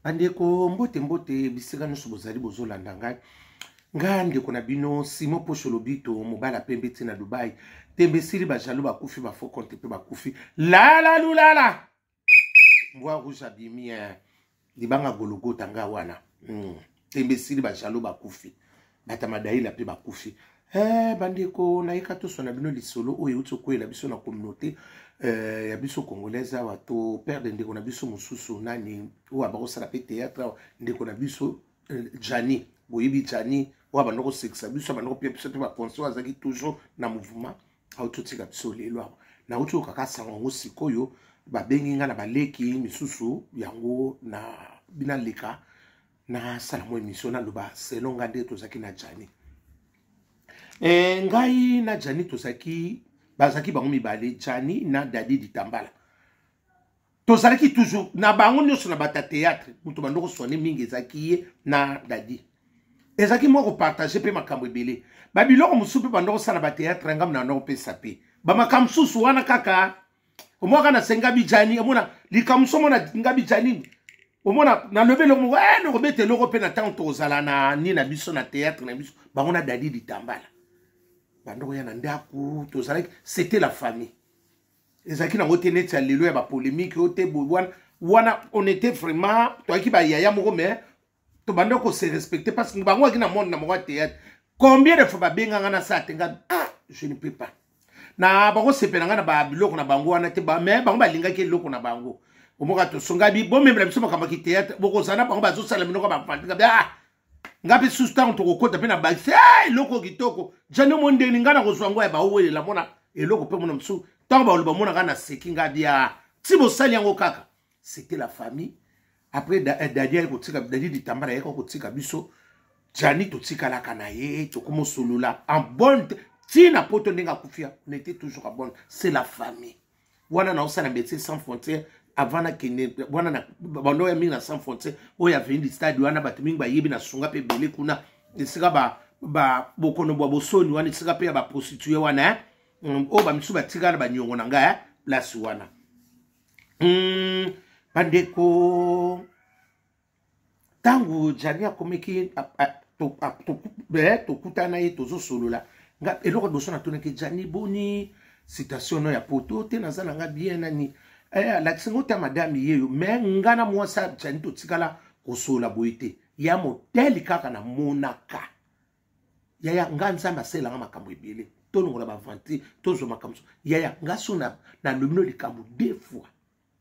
bandeko mbote mbote bisika nyonso bozali bozolanda ngai ngai ndeko na bino simon posho lobito mobali apembe ti na dubai tembe esili bajalo bakufi bafo konte mpe bakufi lala lulala mbwa rouge abimi libanga gologota ngai wana mm. tembe esili bajalo bakufi batamadayila mpe bakufi Eh, bandeko nayeka toswana bino lisolo oyo euti okweyela biso na communauté eh, ya biso congolaise awa to perde ndeko na biso mosusu nani oyo abakosala mpe théâtre awa ndeko na biso eh, jani boyebi jani oyo abanda kosekisa biso abanda kopia biso mpe baconse oyo azalaki toujours na mouvement auti otika biso lelo awa nauti okaka sango yango sikoyo babengi ngai na baleki misusu yango na binaleka nasala mwa émission naloba selon nga nde tozalaki na jani e, ngai na jani tozalaki bazalaki bango mibale jani na dadi ditambala tozalaki toujours na bango nyonso na bata théâtre moto bandoko swane mingi ezalaki ye na dadi ezalaki mwa kopartage mpe makambo ebele babiloko mosusu mpe bandoko sala bateatre ngambo na nokopesa mpe bamakambo mosusu wana kaka omwaka na se ngabi jani omona likambo so mona ngabi jani omona nalobi eloko moko e nakobeta eloko mpe na ntango tokozala na ni na biso na théâtre na biso bango na dadi litambala bandoko ya na ndako tozalaki c'était la famille ezalaki nango te neti ya lelo ya bapolémike oyo te boye wana wana on était vraiment toyaki bayaya moko mais tobanda kose respecte parce que bango aki na monde na moko ya théâtre combien de fois babenganga na saa te nga ah, je ne peux pas na bakosepela ngai na babiloko na bango wana te mais bango balingaki eloko na bango omoka tosongabi bomemela biso makambo ya kiteatre bokozala na bango bazosala minoko bafandika bia ah! ngai mpe susu ntango tokokota mpe na bakisi eh, eloko kitoko jani omo ndeni ngai nakozwa yango ya baowelela mona eloko mpe mona mosusu ntango baloba mona ngai naseki ngai bia ah! ti bosali yango kaka c'était la famille après eh, dadi aye kotika dadi litambala ayeka kotika biso jani totikalaka na ye tokomosolola en bonne ntina poto ndenge akufia on était toujours en bonne c'est la famille wana naosala médecin sans frontière avant nakende wana bando ya mingi na sans frontière oyo aveni stade wana bato mingi bayebi na sunga mpe ebele kuna esika ba ba bokono bwa bosoni wana esika mpe ya baprostitue wana eh? mm, oyo bamisusu batikala banyongo na ngai eh? place wana mm, bandeko ntango jani akomeki eh, tokutana ye tozosolola nga eloko liboso natunaki jani boni citation no ya poto te naza na nga bien nani eh, alakisi ngo ta madame yeyo me nga na mwasi ya jani totikala kosolola boye te ya moteli kaka namonaka yaya nga nzambe asalelanga makambo ebele tolongola baventure tozwa makambo so yaya nga so nalobi no likambo de fois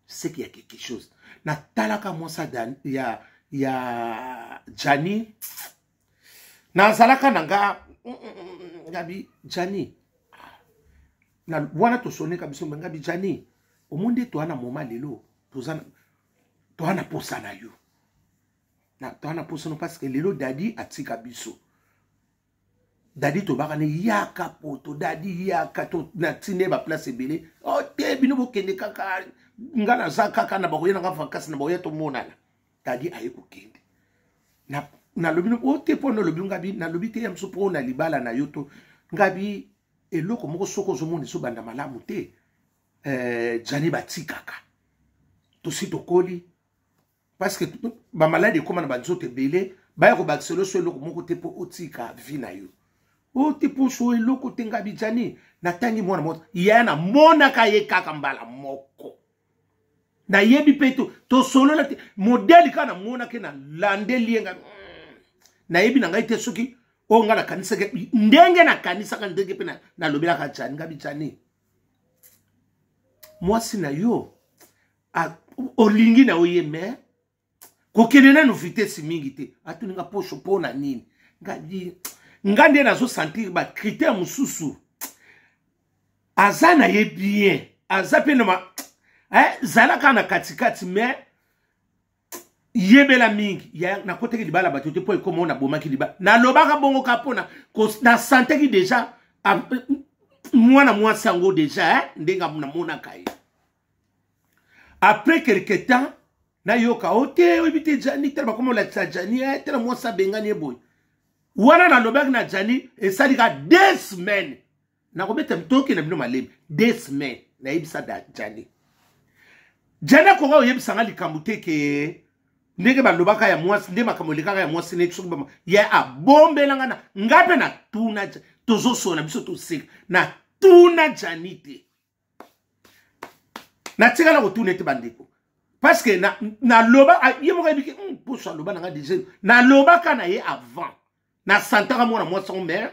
seke ya quelque chose natalaka mwasi ya ya jani nazalaka na nga mm, mm, mm, ngabi jani na wana tosoneka biso me ngabi jani omoni nde toa na moma lelo toza na posa na yo na toa na posono parce que lelo dadi atika biso dadi tobaka ne yaka poto dadi yaka to na tine ba place ebele o oh, te bino bokende kaka nga naza kaka na bakoya na nga vakansi na bakoya tomonana dadi aye kokende na nalobi o oh, te mpo nalobi ngabi nalobi te ya mosu mpo na libala na yo to ngabi eloko moko soki ozomona ezobanda malamu te eh, jani batikaka tosi tokoli parce que bamaladi ekóma na banzoto ebele baya kobakisa loso eloko moko te mpo otika vi na yo o te poso eloko te nga bijani natangi mwana moto yaya namonaka ye kaka mbala moko nayebi mpe to tosolola te modele kaka namonaki nalandeli ye nga mm, nayebi na ngai te soki oyo ngai nakanisaki ndenge nakanisaka ndenge mpe nalobelaka jani nga bijani mwasi na yo olingi na oye mais kokende nanu vitesse mingi te atuni nga posho mpo na nini nga nde nazosentir bacritère mosusu aza na ye bien aza mpe na eh, zalaka na katikati mais yebela mingi nakotaki libala bato te mpo ekoma oyo nabomaki libala nalobaka bongo ka mpona nasantaki deja mwana mwasi yango deja eh, ndenge namonaka ye après quelque temps nayoka o te oyebi te jani tala bakoma olakisa jani e tala mwasi abengani ye boye wana nalobaki na jani esali ka deux semaines nakobeta mitoki na bino malembe deux semaines nayebisa jani jani akoka oyebisa nga likambo te ke ndenge balobaka ya mwasi nde makambo elekaka ya mwasi neti soki ye abombela nga na nga mpe natuna tozosola biso toseka natuna jani te natikala kotuna ete bandeko parceke naloba na ye moko ayebiki hmm, poso aloba na ngai deja nalobaka na ye avant nasantaka mwana mwasi yango mai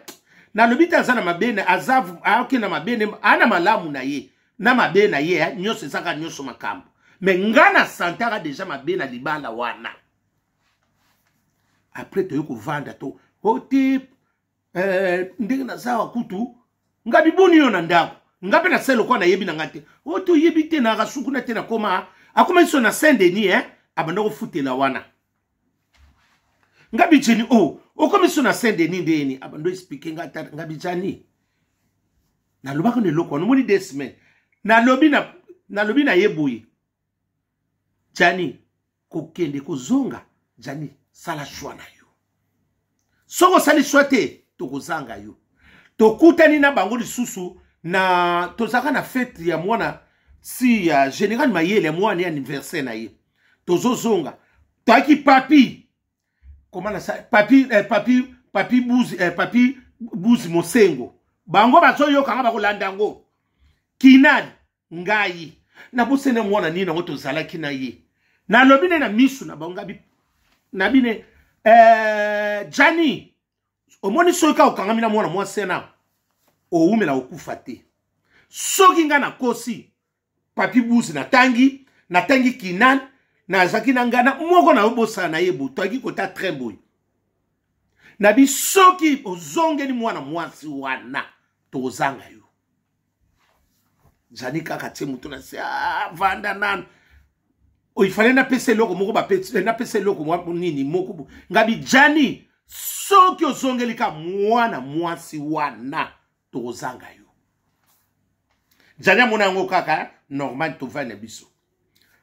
nalobi te aza na mabe aza ayoki na mabe ne ana malamu na ye na mabe na ye eh, nyonso ezaka nyonso makambo me ngai nasantaka deja mabe na libala wana apres toyei kovanda to ote oh, eh, ndenge nazawa kutu nga biboni yo na ndako nga mpe nasali lokola nayebi na nga te o oh, toyebi te na rasukuna te nakoma akoma biso na saint denis eh? abanda kofutela wana nga bijeni o oh, okomi biso na saint denis ndeni abanda explike nga ata nga bijani nalobaka na eloko wana omoni de semaine nalobi na nalobi na ye boye jani kokende kozonga jani sala shwa na yo soki osali shwa te tokozanga yo tokutani na bango lisusu na tozalaka na fete ya mwana si ya uh, général mayele ya mwana ya anniversaire na ye tozozonga toyaki papi koma na papi eh, papi papi buzi eh, papi buzi mosengo bango bazoyoka nga bakolanda yango kinani ngai nabosani yango wana nini yango tozalaki na ye nalobi nde na misu na bango ngabi na bine eh, jani omoni soki kaka okangami na mwana mwasi ena owumela okufa te soki ngai nakosi papi buzi natangi natangi kinan nazalaki na ngai na moko na yo bosala na ye boye toyaki kota train boye na bi soki ozongeli mwana mwasi wana tozanga yo zali kaka tie moto na se ah, vanda nanu oyo ifale napesa eloko moko eh, napesa eloko nini moko ngabi jani soki ozongeli ka mwana mwasi wana tokozanga yo jani amona yango kaka eh, normal tovai na biso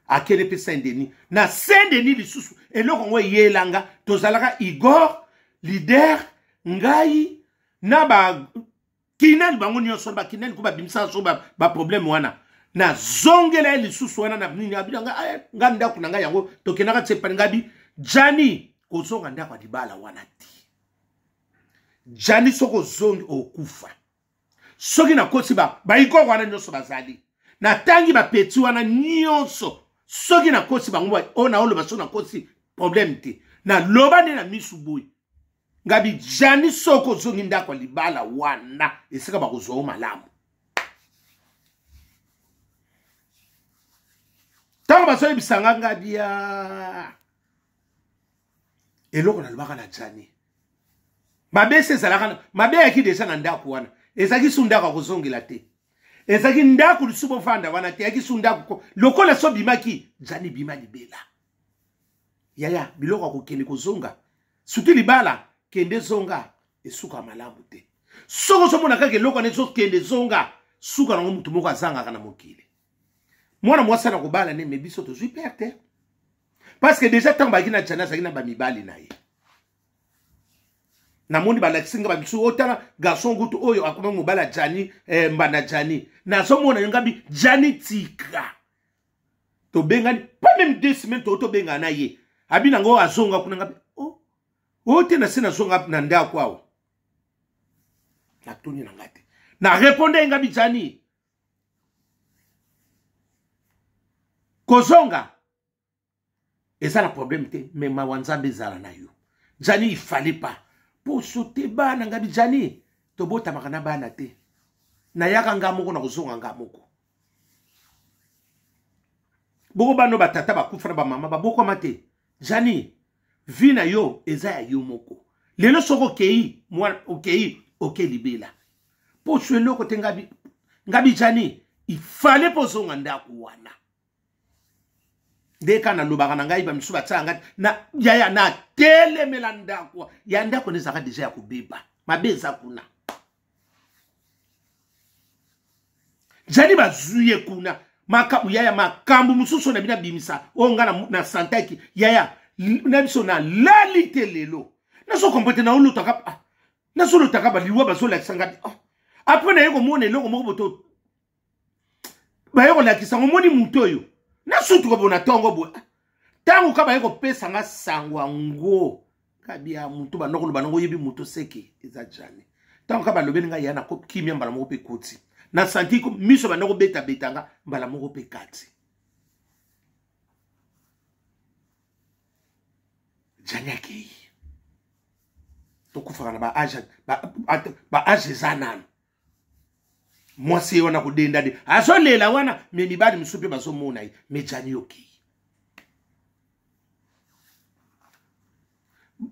akende mpe saint denis na saint denis lisusu eloko yango eyelanga tozalaka igor lider ngai na ba kinani bango nyonso bakinani ko babimisaka so baproblème ba wana nazongela ye lisusu wana na nini abina nga eh, nga ndako na ngai yango tokendaka tsepani ngabi jani kozonga ndako ya libala wana te jani soki ozongi okufa soki nakosi baikoko wana nyonso bazali natangi bapeti wana nyonso soki nakosi bango oyo naoloba soki nakosi problème te naloba nde na misu boye ngabi jani soko ozongi ndako ya libala wana esika bakozwa yo malamu ntango bazoyebisa nga ngabi ya eloko nalobaka na jani mabe esi ezalaka mabe ayaki deja na ndako wana ezalaki su ndako akozongela te ezalaki ndako lisusu bofanda wana te yaki su ndako lokola so bimaki jani bima libela yaya biloko ya kokende kozonga suki libala kende zonga esuka malamu te soki ozomona kaka eloko wana ezokende zonga suka nango motu moko azangaka na mokili mwana mwasi ana kobala nde me biso tozwi pere te parce que déjà ntango bayaki na jana azalaki na bamibali na ye namoni balakisi nga bamisu otala oh, garçon gutu oyo akomi mobala jani eh, mbanda jani nazomona yo ngabi jani tika tobengani pas même deux semaines too tobengana na ye abi na ngo azonga kuna nga o oh, te na se nazonga na ndako awa natuni na nga te na reponde ye nga bijani kozonga eza na problème te mais mawa nzambe ezala na yo jani il fallait pas poso te bana ngabi jani tobotamaka na bana te nayaka nga moko na kozonga nga moko boko bano batata bakufa na bamama babokama te jani vi na yo eza ya yo moko lelo soki okei mwana okei oke libela mpo oswi eloko te ngabi ngabi jani ifale mpo ozonga ndako wana nde kaka nalobaka na ngai bamisusu batyaka ngai na yaya natelemela ndako ya ndako nezalaka deja ya kobeba mabe eza kuna jani bazwi ye kuna makambo yaya makambo mosusu na bino abimisa oyo ngai na santaki yaya na biso nalali te lelo nazokombo te naolotaka ah, nazolotaka baliwa bazolakisa ngai ah. apres naye komona eloko moko boto baye kolakisa ngo moni moto oyo nasutuka bona ntongo boye ntango ka baye kopesa nga sango yango kabia moto banda koloba nango oyebi moto seke eza jane ntango ka balobeli ngai ya nakokimia mbala moko mpe koti na santi miso banda kobetabeta nga mbala moko mpe kati jane akei tokufaka na baage eza nano mwasi ye wana kodenda de azolela wana me mibali mosusu mpe bazomona ye me jani okei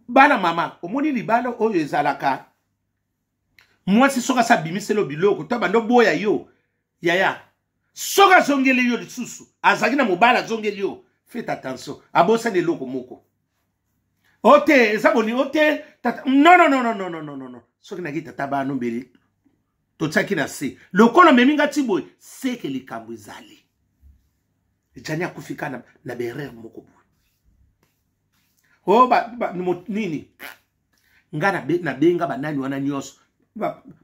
bana mama omoni libala oyo ezalaka mwasi soki asa abimiselo biloko to bando boya yo yaya soki azongeli yo lisusu azalaki na mobali azongeli yo fete attention abosani eloko moko o te eza boni o te nononononononono soki naki tata bana obeli totiaki na se lokola omemi nga ti boye seke likambo ezali jani akufi ka na, na berere moko boye o oh, ba, ba, mo, nini nga nabenga banani wana nyonso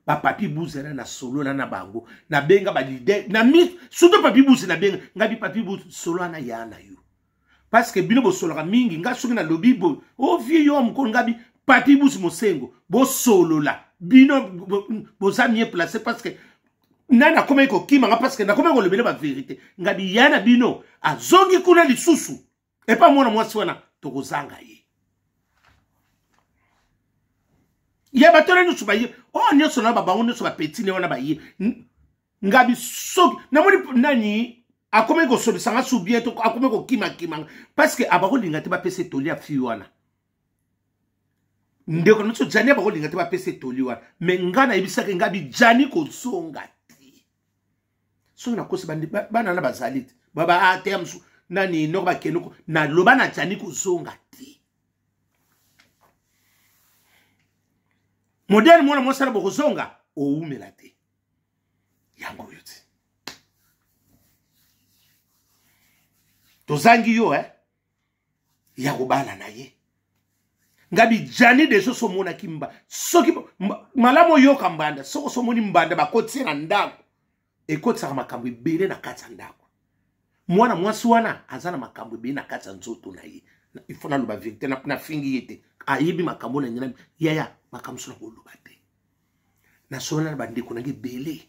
bapapi ba buze na nasolola na bango nabenga balide na mi surtout papi buze nabenga nga bipapi buze solola na ya na yo parce que bino bosolaka mingi nga soki nalobi boye o oh, vie yo mokolo nga bi papi buze mosengo bosolola bino boza mie place parce que nani akomaki kokima nga parce que nakomaki kolobela baverité nga biya na bino azongi kuna lisusu epa mwana mwasi wana tokozanga ye ya bato wana nyonso baye oyo oh, nyonso na babango nyonso bapeti ne wana baye ngabi soki namoni nani akomi kosolisa nga subien to akomi kokimakima nga parceke abakolinga te bapesa etoli ya fille wana ndeko nyonso jani abakolinga te bapesa etoli wana me nga nayebisaki ngabi jani kozonga te soki nakosi bana na bazali te baba ateya ah, mosusu nani noko bakende naloba na jani kozonga te modele mwana mosala bokozonga owumela te yango oyo te tozangi yo eh? ya kobala na ye ngabi jani deja so omonaki mba soki malamu oyoka mbanda soki oso omoni mbanda bakotisi ye na ndako ekotisaka makambo ebele na kati ya ndako mwana mwasi wana aza na makambo ebele na kati ya nzoto na ye il faut naloba verité nafingi ye te ayebi makambo na ngai yaya makambo so nakoloba te nasolana na bandeko na ngai ebele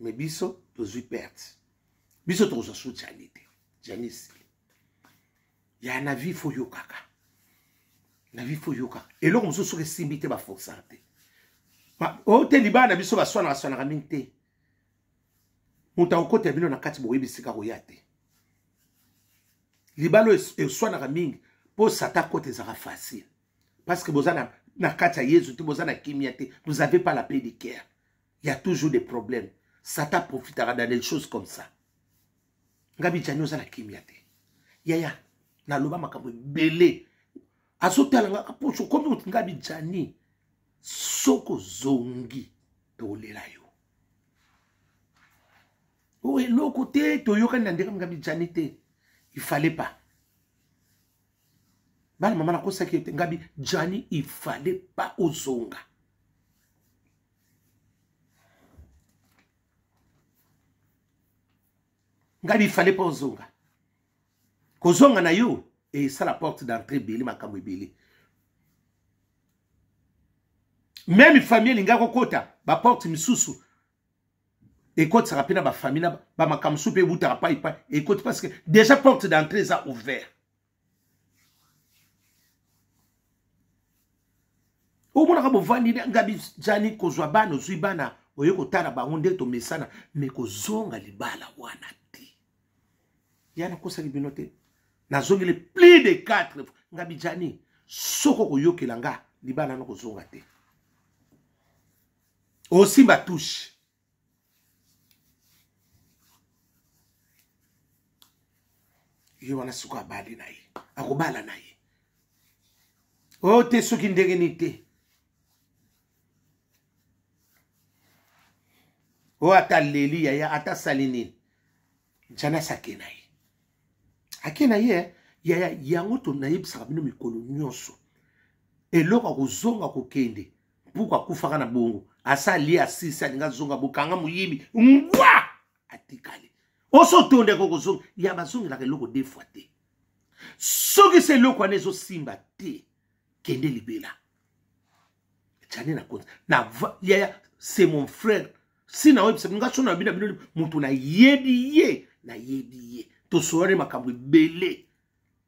me biso tozwi perte biso tokozwa su jani te jani esili ya na vie fo yokaka na vie fo yokaka eloko mosusu soki esimbi te baforsaka te o te libala na biso baswanaka swanaka mingi te moto akokota bino na kati boyebi esika koya te libala oyo eswanaka mingi mpo sata kota ezalaka facile parce que boza na, na kati ya yezu te boza na kimia te vous avez pas la paix de cœur il y a toujours des problèmes satan profitaka dans des choses comme ça ngabi jani oza na kimia te yaya naloba makambo ebele azotala nga kaposo okomi oti ngabi jani soki ozongi tolela yo oyo eloko te toyokani na ndenge ngabi jani te il fallait pas bana mama nakosaki yo te ngabi jani il fallait pas ozonga ngabi il fallait pas ozonga kozonga na yo esala porte d'entrée ebele makambo ebele meme famille elingaki kokota baporte misusu ekotisaka mpe na bafamille na bamakambo mosusu mpe ebutaka pai pai ekoti parce que déjà porte d'entrée eza ouvert omonaka bovandi ngabi jani kozwa bana ozwi bana oye kotala bango nde tomesana me kozonga libala wana te ya nakosaki bino te nazongeli plus de 4 ngabi jani soko koyokela nga libala na kozonga te osimba touche ye wana sikoyo abali na ye akobala na ye o oh, te soki ndenge nini te o oh, ata leli yaya ata asali nini janasi ake na ye ake na ye eh? yaya yango tonayebisaka bino mikolo nyonso eloko akozonga kokende mpuku akufaka na bongo asa alie asisi alinga azonga bokanga moyibi ngwa atikali oso otonda eko kozonga ya bazongelaka eloko de fois te soki se eloko wana ezosimba te kende libela jane na konzi na yaya c'est mon frère si na oyebisa bino ngasona bino bino moto nayebi ye nayebi ye tosolani makambo ebele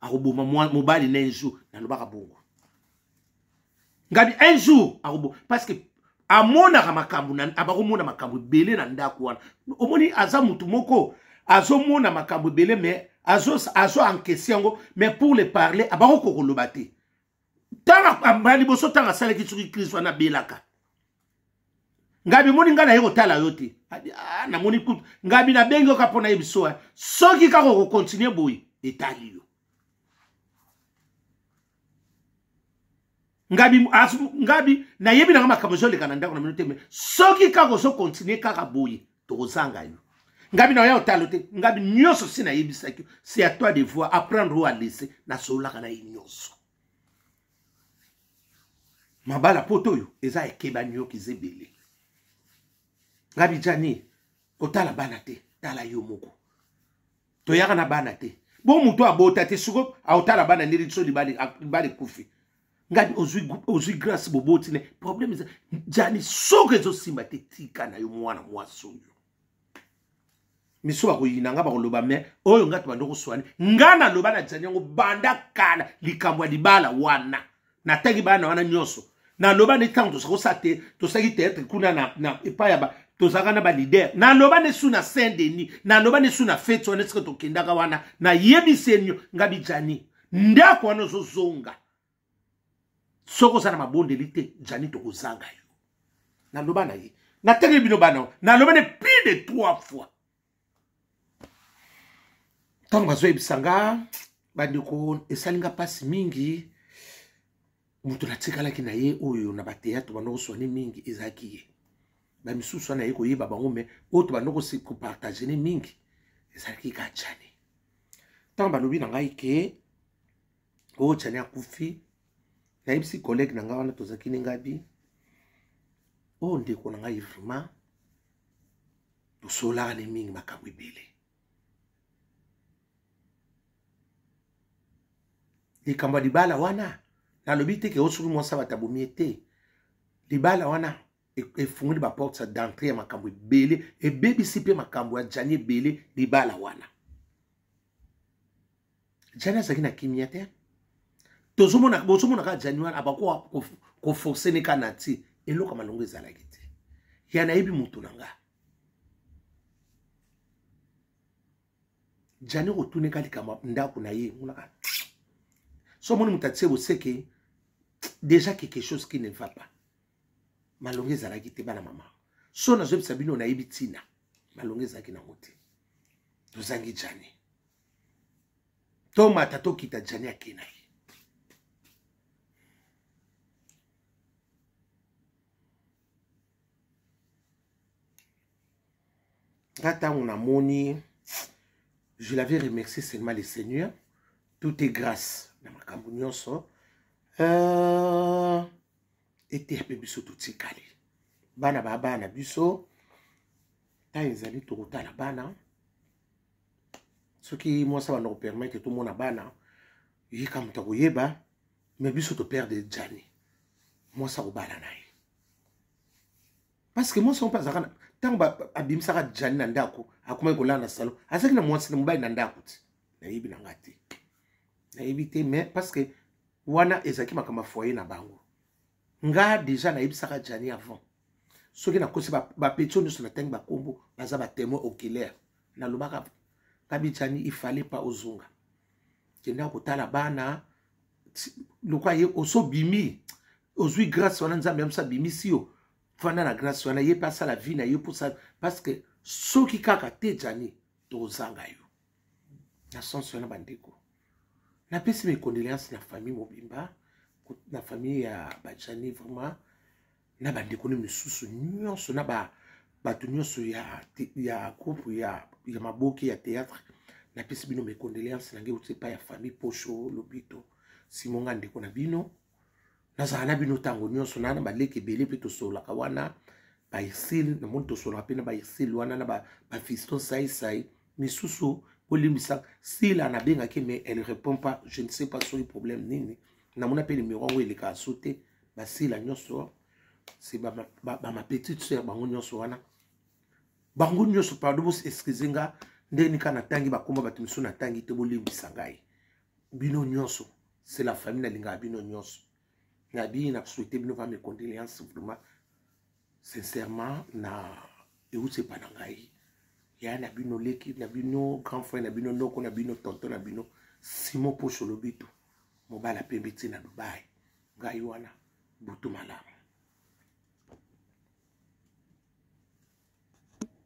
akoboma mobali na un jour nalobaka bongo ngabi un jour akoboma parce que amonaka makambo abakomona makambo ebele na ndako wana omoni aza motu moko azomona makambo ebele mais azo, azo encaisse yango mais pour le parler abako kokoloba te ntango liboso ntango asalaki soki kristo wana abelaka ngabi moni ngai naye kotala yo te ah, namoni kutu ngabi nabengi yo ka mpo nayebi so eh. soki kaka okokontinue boye etali yo ngabi ngabi nayebi nanga makambo ezoleka na ndako na mino te me soki kaka ozokontinue kaka boye tokozanga yo ngabi na oya otalo te ngabi nyonso si nayebisaki yo c'est à toi de voir apprendre ou à laisser nasololaka na ye nyonso mabala poto oyo eza ekeba nyoki eza ebele ngabi jani otala bana te tala yo moko toyaka na bana te bo moto abota te siko aotala bana ndeli biso libala ekufi ngadi ozwi ozwi grâce boboti ne problème eza jani soki ezosimba te tika na yo mwana mwasi oyo miso bakoyina nga bakoloba me oyo nga tobanda okoswani nga naloba na jani yango banda kala likambo ya libala wana natangi bana wana nyonso naloba nde ntango tozali kosala te tosalaki teatre kuna na, na epai ya ba tozalaka na balider naloba nde su na saint denis naloba nde su na feti wana esika tokendaka wana nayebisi enio nga bijani ndako wana ozozonga soki oza na mabondeli te jani tokozanga yo naloba na ye natangeli bino bana naloba ne plus de trois fois ntango bazoyebisa nga bandeko esali nga mpasi mingi moto natikalaki na ye oyo na bateatre bana oswani mingi ezalaki ye ba misusu wana ye koyeba bango mais oyo tobanda kopartage ne mingi ezalaki ka chane ntango balobi na ngai ke oyo chane akufi nayebisi collègue na ngai wana tozalaki ne ngabi oyo ndeko na ngai vraiment tosolaka ne mingi makambo ebele likambo ya libala wana nalobi te ke oyo soki mwasi abatabomi ye te libala wana efungoli baporte d'entrée ya makambo ebele ebebisi mpe makambo ya jani ebele libala wana jani azalaki na kimia te tozomona bozomona kaka jani wana abakoka koforce ne kaka na ti eloko malongo ezalaki te ya nayebi motu na nga jani kotuneka likambo ndako na ye monaka so omoni moto atie boseke deja quelque chose qui ne va pas malonga ezalaki te bana mama so nazoyebisa bino nayebi ntina malonga ezalaki nango te tozangi jane tomata tokita jane ake na ye nga ntango namoni je l'avais remercié seulement le seigneur tout est grâce na makambo nyonso euh... eteya mpe biso totikali bana ba bana biso ntango ezali tokotala bana soki mwasi abanda kopermetre tomona bana yika moto akoyeba me biso toperde jani mwasi akobala na ye parceke mwasi yango mpe azalaka na ntango abimisaka jani na ndako akomaki kolala na salon azalaki na mwasi na mobali na ndako te nayebi na ngai te nayebi te mais parce que wana ezalaki makambo ya foyer na bango nga deja nayebisaka jani avant soki nakosi bapeti oyo nyonso natangi bakombo baza batemoin oculaire nalobaka kabi jani ifale pa ozonga kenda kotala bana lokola ye osobimi ozwi grâce wana nzambe yamisa abimisi yo fanda na grâce wana ye mpe asala vie na ye mposa parce que soki kaka te jani tozanga yo na sense wana bandeko napesi mes condoléances na famille mobimba na famille ya bajani vraiment na bandeko ne misusu nyonso na ba bato nyonso ya, ya groupe ya, ya maboke ya théâtre napesi bino mes condoléances na ngai euti epai ya famille posho lobito simonga ndeko na bino nazala na bino ntango nyonso na na baleki ebele mpe tosololaka wana baisile namoni tosololaka mpe na baisile wana na bafiston ba saisai misusu bolimbisa sila nabengaki mais elle répond pas je ne sais pas soki problème nini namona mpe nimero yango elekaka so te basila nyonso se bamapetite soeur bango nyonso wana bango nyonso pardon bos excuse nga ndenge nika natangi bakoma bato misusu natangi te bolimbisa ngai bino nyonso c'est la famille nalingaka bino nyonso nabii na souhaite bino va mes condoléances vraiment sincèrement na euti epa na ngai yaya na bino leki na bino grand frère na bino noko na bino tonto na bino simon poso lobito mobala pembe ti na dubai ngai wana butu malamu